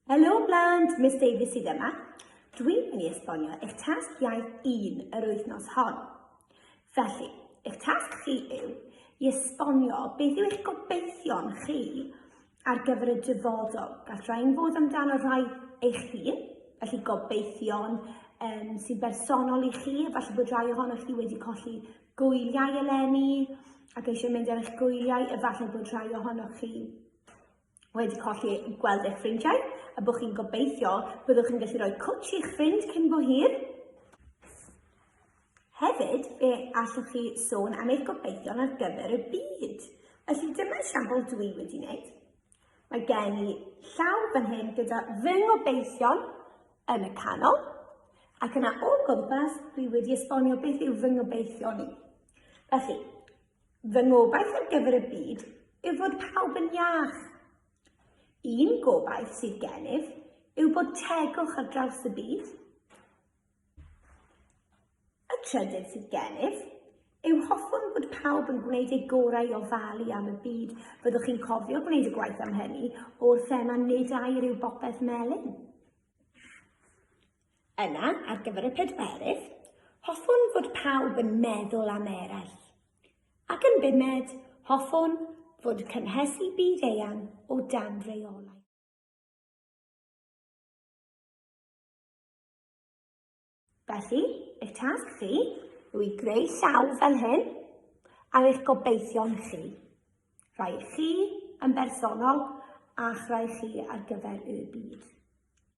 Helo blant, Miss Davies sydd yma. Dwi'n mynd i esbonio eich tasg iaith un yr wythnos hon. Felly, eich tasg chi yw i esbonio beth yw eich gobeithion chi ar gyfer y dyfodol. Gall rhain fod amdano rhai eich hun, felly gobeithion um, sy'n bersonol i chi, falle bod rhai ohonoch chi wedi colli gwyliau eleni ac eisiau mynd ar eich gwyliau, efallai bod rhai ohonoch chi wedi colli gweld eich ffrindiau a bod chi'n gobeithio byddwch chi'n gallu rhoi cwtsh i'ch ffrind cyn bo hir. Hefyd, fe allwch chi sôn am eich gobeithion ar gyfer y byd. Felly dyma esiampl dwi wedi wneud. Mae gen i llaw fan hyn gyda ring o beision yn y canol, ac yna o gwmpas dwi wedi esbonio beth yw fy ngobeithio ni. Felly, fy ngobaith ar gyfer y byd yw fod pawb yn iach. Un gobaith sydd gennyf yw bod tegwch ar draws y byd, Y trydydd sydd gennyf yw hoffwn fod pawb yn gwneud eu gorau i ofalu am y byd. Byddwch chi'n cofio gwneud y gwaith am hynny o'r thema Nid air yw bopeth melyn. Yna, ar gyfer y pedwerydd, hoffwn fod pawb yn meddwl am eraill. Ac yn bumed, hoffwn fod cynhesu byd eang o dan reolau. Felly, eich tasg chi yw i greu llaw fel hyn ar eich gobeithion chi. Rhaid chi yn bersonol a'ch rhaid chi ar gyfer y byd.